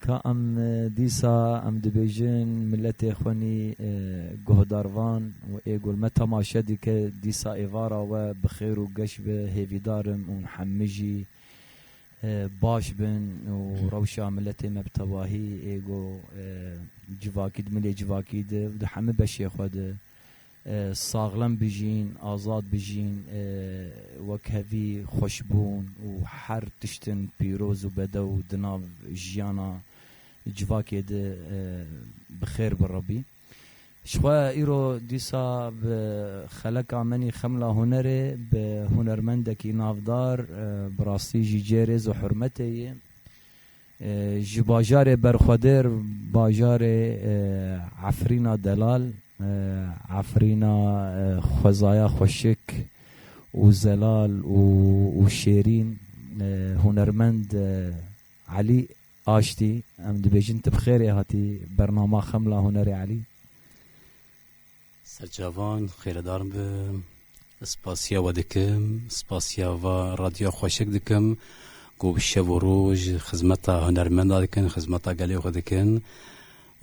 Ka em dîsa em dibêjin miletê xwe nî guhdar van û ê gul me temaşe dike dîsa êvara we bi xêr û geş be hêvîdar im û hemû jî baş bin û rewşa miletê me bi tevahî ê got civakî di milê civakî de û di hemû beşê xwe de Saxlem bijîn, azad bijîn, wek hevî xweşbûn û her tiştin pîroz û bedew di nav jiyana civakê de bi xêr bi Rebî. Ji xwe îro dîsa bi xeleka menî xemla hunerê, bi hunermendekî navdar, bi rastî jî cê rêz û hurmetê yê. Ji bajarê berxwedir bajarê Efrîna delal, Efrîna xwezaya xweşik û zelal û şêrîn hunermend Elî Aştî em dibêjin tu bi xêrê hatî bernama Xemla Hunerê Elî. Serçavan xêredar be. Spasiya we dikim. Spasiya va radyoya xweşik dikim ku bi şev û roj xizmeta hunermenda dikin, xizmeta gelê xwe dikin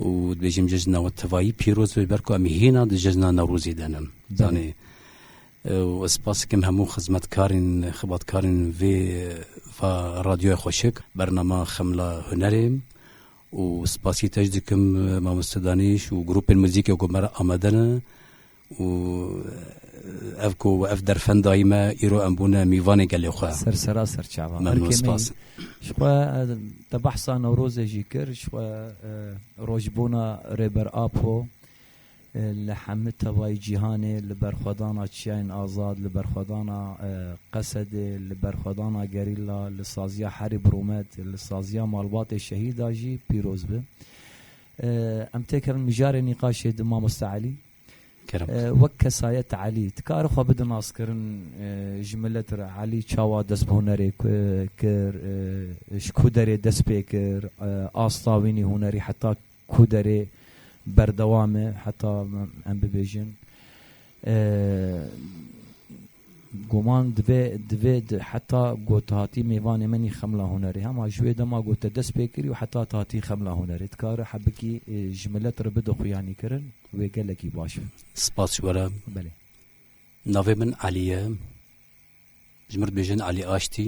û dibêjim cejna we tevayî pîroz be ji ber ku em hîna di cejna Newrozê de ne. Zanê û ez spas dikim hemû xizmetkarên xibatkarên vê va radyoya xweşik, bernama Xemla Hunerê. û spasî te jî dikim mamoste Danîş û grûpên muzîkê ku me re amade ne û ev ku ev derfend dayî me îro em bûne mîvanê gelê xwe. Ser sera ser çava. Memnûn spas. Jixwe te behsa Newrozê jî kir, jixwe rojbûna Rêber Apo, Li hemû tevayî cîhanê li berxwedana Çiyayên Azad, li berxwedana Qesedê, li berxwedana Gerîla, li saziya Herî bi Rûmet, li saziya malbatê şehîda jî pîroz bi. Em têkevin mijarê nîqaşê di Mamoste Elî. Kerem. Wek kesayet Elî dikare xwe bide naskirin ji milet re. Elî çawa dest bi hunerê kir, ji ku derê dest pê kir, asta wî nî hunerî heta Ku derê berdewam e heta em bibêjin goman divê divê heta ku hatî mêvanê min î xemla hunerê hema ji wê dema ku te dest pê kirî û heta te hatî xemla hunerê dikare hebikî ji milet re bide xuyanîkirin wê gelekî baş be. Spas ji we re. Belê. Navê min Elî ye. Ji min re dibêjin Elî Aştî.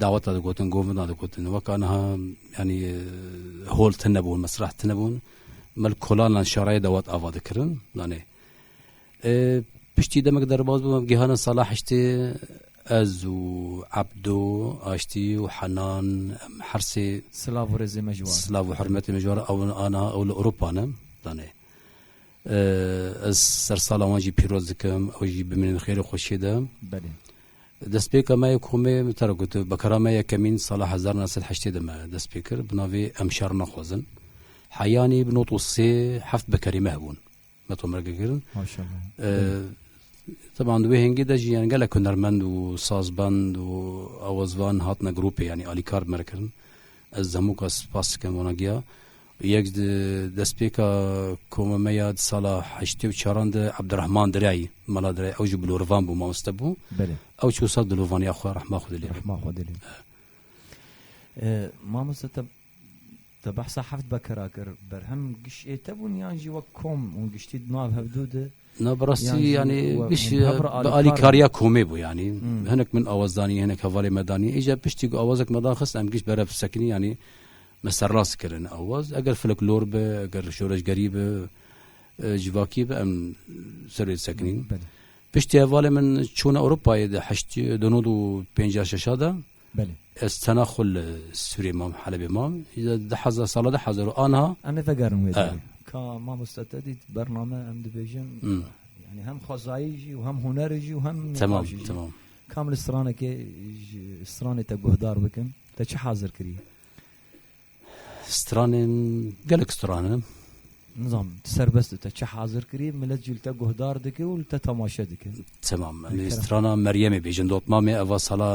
Daweta digotin, govina digotin. Weka niha yanî hol tine bûn, mesrah tine bûn. Mel kolanan şarayê dawet ava dikirin. Nanê. Piştî demek derbaz bûm gihana sala heştê ez û Ebdo, Aştî û Henan em her sê silav û rêzê me ji war. Silav û hurmetê me ji war ew aniha ew li Ewropa ne. Danê. Ez ser sala wan jî pîroz dikim, ew jî bimînin xêrê xweşiyê de. Belê. Destpêka me yê komê min te re got bekara me yekemîn sala hezar û neh sed û heştê de me dest pê kir bi navê Em şer naxwazin. Heyanî bi not û sê heft bekarî me hebûn. Me tomre girgirin. Teban di wê hêngê de jî yani gelek hunermend û sazbend û awazvan hatine grûpê yanî alîkar bi me re kirin. Ez di hemû ka spas dikim wana giya. Yek di destpêka koma me ya di sala heştê û çaran de Ebdirehman Diray, Mela Diray ew ji Bilorvan bû, mamoste bû. Belê. Ew çû sal dilovaniya xwe rehma xwe dilê. Rehma xwe dilê. Mamoste te te behsa heft bekera kir berhem giş ê te bûn yan jî wek kom û giştî di nav hevdû de Na bi rastî yanî giş bi alîkariya komê bû yanî hinek min awazdanî hinek hevalê me danî êca piştî ku awazek me dan xist em giş berev sekinî yanî Me serrast kirin awaz eger fleklor be, eger şoreşgerî be, civakî be em ser wê disekinîn. Piştî hevalê min çûna Ewropayê di heştî du nod û pêncî şeşa de ez tena xwe li Sûriyê mam Helebê mam di hezar sala di hezar û anha em ê vegerin wê derê. Ka mamosta te dît bername em dibêjin yani hem xwezayî jî û hem hunerê jî û hem temam temam kam li stranekê stranê te guhdar bikin te çi hazir kirî? Stranên gelek stran in. Nizam serbest te çi hazir kirî millet jî li te guhdar dike û li te temaşe dike. Temam em strana Meryemê bêjin dotmamê eva sala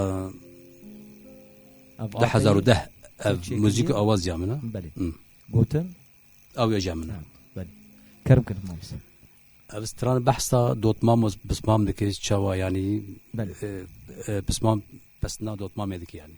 di hezar û deh ev muzîk awaziya min e belê gotin ew êja min e kerm kirin mamsa ev stran behsa dotmam û pismam dike çawa yanî pismam pesna dotmamê dike yanî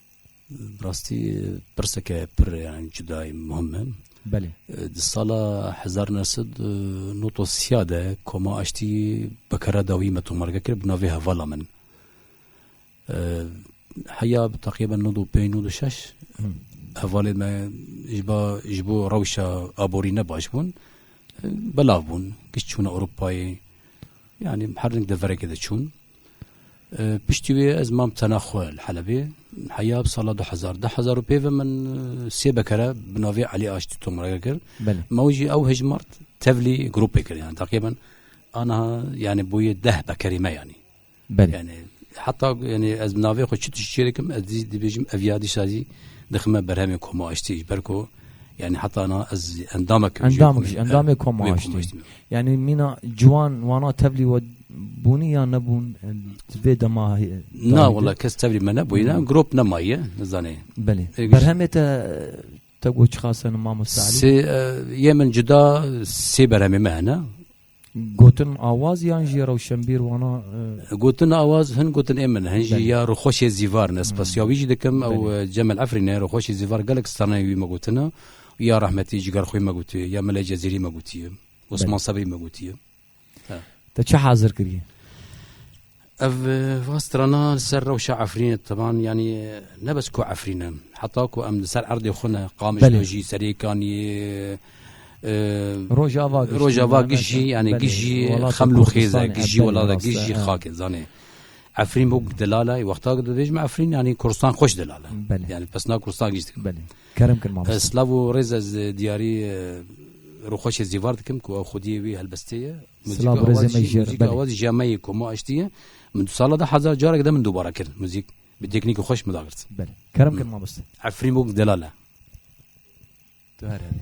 Bi rastî pirseke pir yani cudayî muhim e. Belê. Di sala hezar neh sed û nod û sîya de Koma Aştî bekara dawî me tomarge kir bi navê Hevala min. Heya bi teqrîben nod û pênc nod û şeş hevalê me ji ba ji bo rewşa aborî ne baş bûn belav bûn giş çûna Ewropayê yanî her devereke de çûn. Piştî wê ez mam tena xwe li Helebê. Heya bi sala du hezar du hezar û pê ve min sê bekere bi navê Elî Aştî tomrege kir. Me wî jî ew hejmart tevlî grûpê kir yani deqê min aniha yani bûyê deh bekerî me yanî. Yani heta yani ez bi navê xwe çi tişt çêdikim ez dibêjim ev ya dîsa zî dixime berhemê koma aştî ji ber ku Yani heta na ez endamek endamek ji endamê koma aştî yani mîna ciwan wana tevlî we bûnî ya nebûn vê dema na wala kes tevlî me nebûyî ne grop nemaye nizanê belê berhemê te te got çixasen mamosta sê yê min cida sê berhemê me hene Gotin awaz yan jî rewşenbîr wana? Gotin awaz hin gotin ê min hin jî ya rûxweşê Zîvar in. Ez spesiya wî jî dikim. Ew Cemel Efrîn e. Rûxweşê Zîvar gelek straneyên wî me gotin e. Ya rehmetî Cigerxwî me gotiye, ya Mele Cezîrî me gotiye, Osman Sebrî me gotiye. Te çi hazir kiriye? Ev va strana li ser rewşa Efrînê tevan yanî ne bes ku Efrîn e heta ku em li ser erdê xwe ne qamişlojî serêkanî rojava rojava gijî yanî gijî xemlû xêze gijî welada gijî xakê zanê Efrîn bû delala wexta dibêjme Efrîn yanî Kurstan xweş delala yani pesna Kurstan gîst kerim kir Slav û rêz ez diyarî rûxweşê zîvar dikim ku xwediyê wî helbestê ye Silav birêzê me ji Muzîka we ji me yê ku me aştiye min du sala de hezar carek de min dubara kir muzîk bi teknîkê xweş min dagirt. Belê. Kerem kir mamoste. Efrîn bûk delal e. Tu her herî.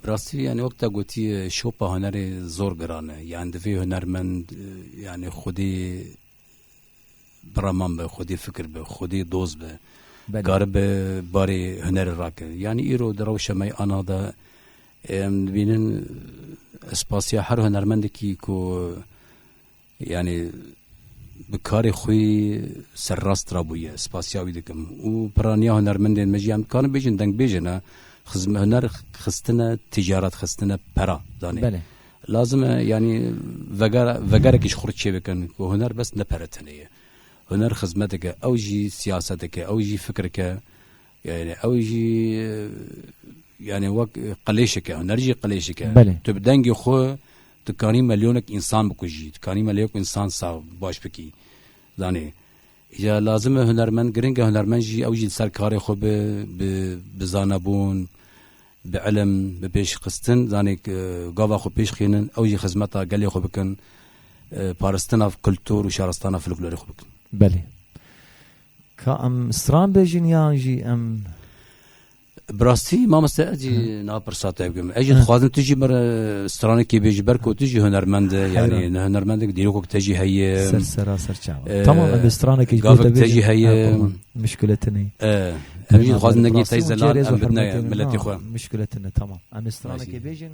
Bi rastî yanî wek te gotî şopa hunerê zor giran e. Yan divê hunermend yanî xwedî biraman be, xwedî fikir be, xwedî doz be. Karibe barê hunerê rake. Yanî îro di rewşa me yê ana de em dibînin ez spasiya her hunermendekî ku Yanî bi karê xwe serrast rabûye, spasiya wî dikim û piraniya hunermendên me jî em dikarin bêjin dengbêje ne xizm huner xistine ticaret xistine pera danê. Belê. Lazim e yanî veger vegerekî ji xwe çêbikin ku huner bes ne pere tenê ye. Huner xizmeteke ew jî siyaseteke ew jî fikireke Yani ew jî yani wek qilêşeke huner jî qilêşeke tu bi dengê xwe dikanî milyonek însan bikujî dikanî milyonek însan sax baş bikî zanê ya lazim e hunermend giring e hunermend jî ew jî ser karê xwe bi bi zanebûn bi elm bi pêşxistin zanê gava xwe pêş xînin ew jî xizmeta gelê xwe bikin paristina kultur û şaristana folklorê xwe bikin belê Ka em stran bêjin yan jî em Bi rastî mamoste ez jî niha pirsa te bikim. Ez jî dixwazim tu jî mir stranekê bêjî ber ku tu jî hunermend e yanî ne hunermendek dîrokek te jî heye. Ser sera ser çawa. Tamam em bi stranekê ji bo te bêjî. Te jî heye. Mişkuleti ne. Em jî dixwazin nekî teyze lan em bidne miletê xwe. Mişkuleti ne tamam. Em stranekê bêjin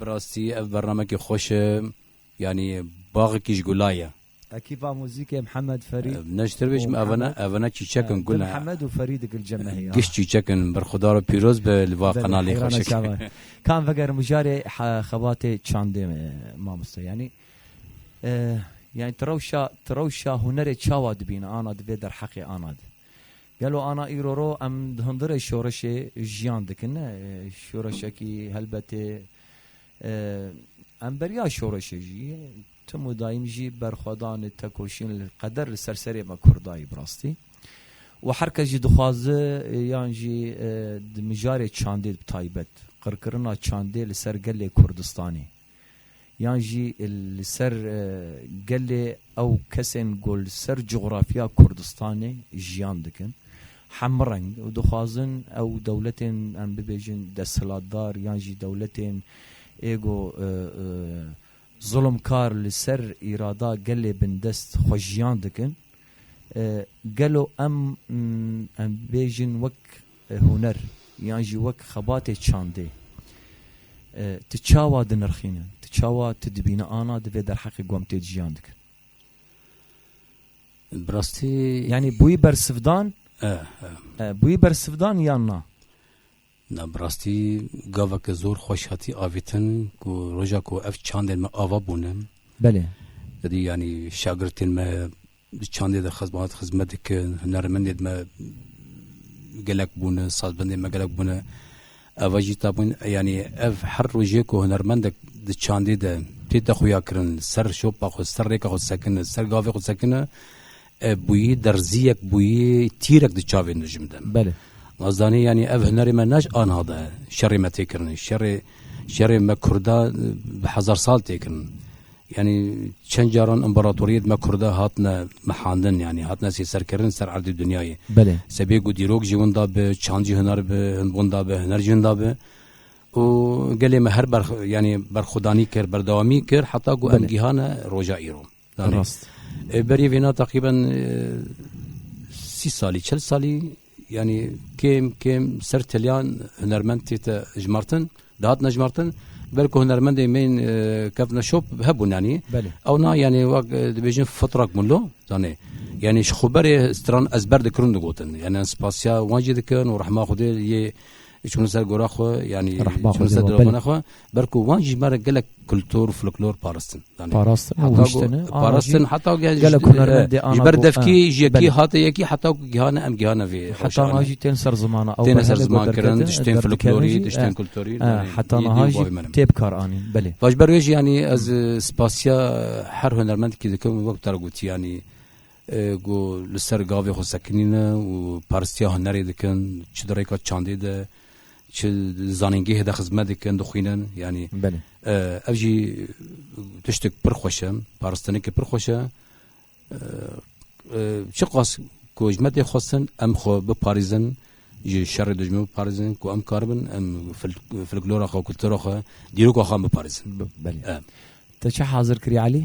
Bi rastî ev bernamekî xweş e, yanî baxekî ji gula ye. Ekîpa muzîkê Mihemed Ferîd Ev ne ji te ve jî ev ne ev ne çîçek in, gul e. Mihemed û Ferîd Gilcemehê ya. Giş çîçek in, bir xuda re pîroz be li va qenalê xweşik. Ka em vegerin mijarê xebatê çandê mamoste yanî yanî ti rewşa ti rewşa hunerê çawa dibîne ana di vê derheqê ana di. Gelo ana îro ro em di hundirê şoreşê jiyan dikin ne şoreşekî helbetê em beriya şoreşê jî tim û daîm jî berxwedanê tekoşîn li qeder li ser serê me kurdayî bi rastî û her kes jî dixwaze yan jî di mijarê çandê bi taybet qirkirina çandê li ser gelê Kurdistanê Yan jî li ser gelê ew kesên ku li ser cografya Kurdistanê jiyan dikin hemreng û dixwazin ew dewletên em bibêjin desthilatdar yan jî dewletên ê ku zilimkar li ser îrada gelê bindest xwe jiyan dikin gelo em em bibêjin wek Huner yan jî wek xebatê çandê tu çawa dinirxînin, tu çawa tu dibîne ana divê derheqê gomtê ciyan dikin. Bi rastî yanî bûyî bersivdan bûyî bersivdan yan na? Na bi rastî gaveke zor xweş hatî avîtin ku roja ku ev çandên me ava bûne. Belê. Didî yanî şagirtên me Di çandê de xizm hat xizmet dikin, hunermendê me gelek bûne, sazbendê me gelek bûne. Eva jî tabûn yanî ev her rojê ku hunermendek di çandê de tê te xuya kirin, ser şopa xwe, ser rêka xwe sekine, ser gavê xwe sekine, bûyî derziyek bûyî tîrek di çavê min de ji min de. Belê. Ez zanî yanî ev hunerê me naş anha de şerê me tê kirinê. Şerê şerê me Kurda bi hezar sal tê kirin. Yanî çend caran împaratoriyê di me Kurd de hatine mehandin yanî hatine sêserkirin ser erdê dinyayê. Belê. Sebê ku dîrok jî winda bi, çand jî huner bi, hin winda bi, huner jî hinda bi. û gelê me her ber yanî berxwedanî kir, berdewamî kir heta ku em gihane roja îro. Rast. Berî vêna teqrîben sî salî, çil salî Yanî kêm kêm ser teliyan hunermend tête jimartin, dihatine jimartin. Belki hunermendê mêyin e, kevne şop hebûn yanî. Belê. Ew na yanî wek e, dibêjin fitrak bûn lo zanê. Yanî ji xwe berê stran ezber dikirin digotin. Yanî em spasiya wan jî dikin û rehma Xwedê yê çûn ser gora xwe yanî Rehma çûn Xwedê ser wa, dilxwana belê. xwe. Ber ku wan jî bare gelek kultur û folklor paristin. Parastin û hiştin. Parastin heta ge gelek hunermendê ana. Ji ber devkî ji yekî hate yekî heta ku gihane em gihane vê. Heta na jî tên ser zimana ew. Tên ser ziman kirin, tiştên folklorî, tiştên kulturî. Heta na jî tê bi kar anîn. Belê. Baş ber wê jî yanî ez spasiya her hunermendkî dikim wek te re gotî yanî Ku li ser gavê xwe sekinî ne û parstiya hunerê dikin, çi di rêka çandê de, çi di zanîngehê de xizmet dikin, dixwînin. Yanî ev jî tiştek pir xweş e, paristinekê pir xweş e. Çiqas ku ji me tê xwestin em xwe biparêzin, ji şerê dijmin biparêzin, ku em karibin em folklora xwe, kultura xwe, dîroka xwe em biparêzin. Belê. Te çi hazir kirî Elî?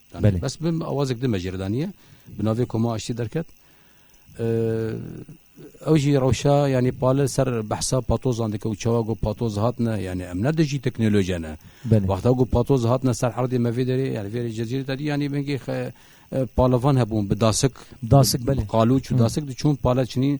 Belê. Bes bim awazek dime jê re daniye. Bi navê Koma Aştî derket. Ew jî rewşa yanî pali ser behsa patozan dike û çawa got patoz hatine yanî em ne dijî teknolojiya ne. Wexta got patoz hatine ser herdê me vê derê yani vê cezîrê derî yanî bingê palivan hebûn bi dasik dasik belê qalûç û dasik diçûn pale çinî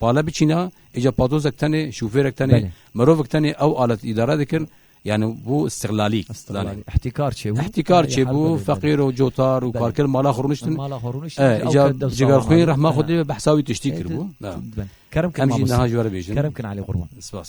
Pale biçîna, îca patozek tenê, şofêrek tenê, Belê. mirovek tenê ew alet îdare dikin. Yani bu istiqlalî. Istiqlalî. Îhtîkar çêbû. Îhtîkar çêbû, feqîr û cotar û karker mala xwe rûniştin. Mala xwe rûniştin. E, îca cigerxwîn rehma xwe dê bi hesabî tiştî kiribû. Kerem kin Em jî niha ji we re bêjin. Kerem kin Elî Qurban. Spas.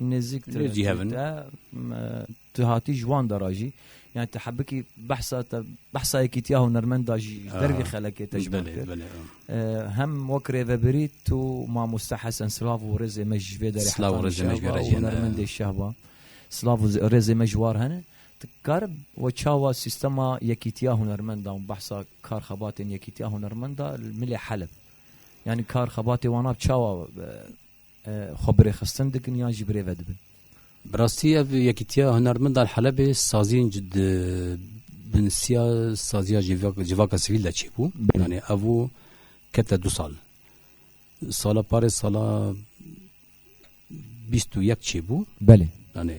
Nêzik te Lê cihevin. te m, tu hatî ji wan dara jî yani te hebikî behsa te behsa yekîtiya hunermend da jî ji dervî xelekê te ji wan Belê, kir. belê. Ee, hem wek rêvebirî tu mamoste Hesen Slav û rêzê me ji vê derê Slav û hetanî rêzê me ji şehba gerek û hene. hunermendê şehba Slav û zê- rêzê me ji war hene tu kar we çawa sîstema yekîtiya hunermenda û behsa kar xebatên yekîtiya hunermenda li milê Heleb yani kar xebatê wan ab çawa e, Xwe bi rêxistin dikin yan jî bi rê ve dibin? Bi rastî ev yekîtiya hunermendan Helebê saziyên di binsiya saziya civaka sivîl de çêbû. Yanê ev û kete du sal. Sala parê sala bîst û yek çêbû. Belê. Yanê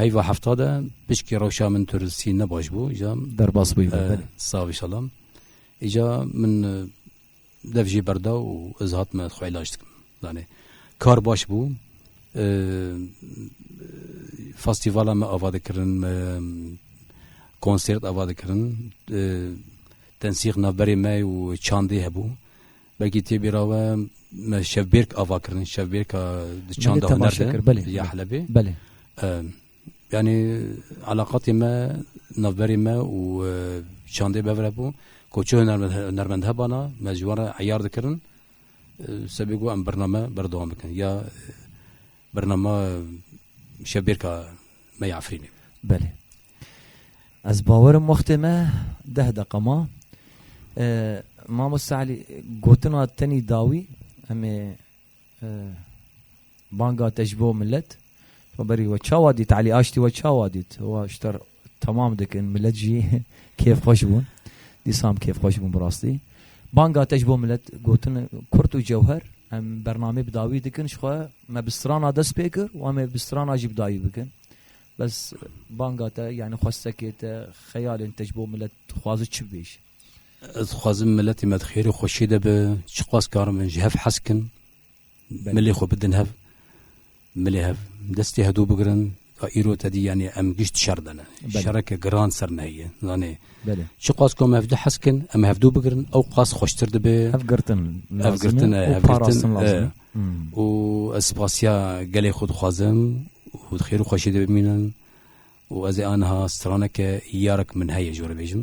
Heyva hefta de pişkî rewşa min tu risî ne baş bû îca derbas bû sav îşala îca min dev jî berda û ez hatme xwe îlaj dikim danê kar baş bû festîvala me ava dikirin me konsêrt ava dikirin tensîx navberê me û çandê hebû Belkî tê bîra we me şevbêrk ava kirin, şevbêrka di çanda huner de ya Helebê. Belê. Yani alaqatê me navberê me û çandê bevre bû. Ku çi hunermend hebana me ji wan re eyar dikirin sebê ku em birname berdewam bikin ya birnama şevbêrka me yê Efrînê. Belê. Ez bawerim wextê me deh deqa ma. Mamoste Elî gotina tenî dawî em ê banga te ji bo millet berî we çawa dît Elî aştî we çawa dît wa şter temam dikin millet jî kêfxweş bûn dîsam kêfxweş bûn bi rastî. Banga te ji bo milet gotin kurt û cewher em bernameyê bi dawî dikin ji xwe me bi strana dest pê kir û em ê bi strana jî bi dawî bikin. Bes banga te yanî xwestekê te xeyalên te ji bo milet dixwazi çi bibêjî? Ez dixwazim miletê me di xêr û xweşiyê de be, çiqas karin bin ji hev hez kin. Milê xwe bidin hev, milê hev destê hedû bigirin ka îro tedî yanê em gişt şer dene. Şereke giran ser me heye. Zanê çi qas ku em hevdu hez kin, em hevdu bigirin ew qas xweştir dibe. Ev girtin ev girtin e ev girtin e û ez spasiya gelê xwe dixwazim û xêr û xweşiyê de bimînin û ez ê aniha straneke yarek min heye ji we re bêjim.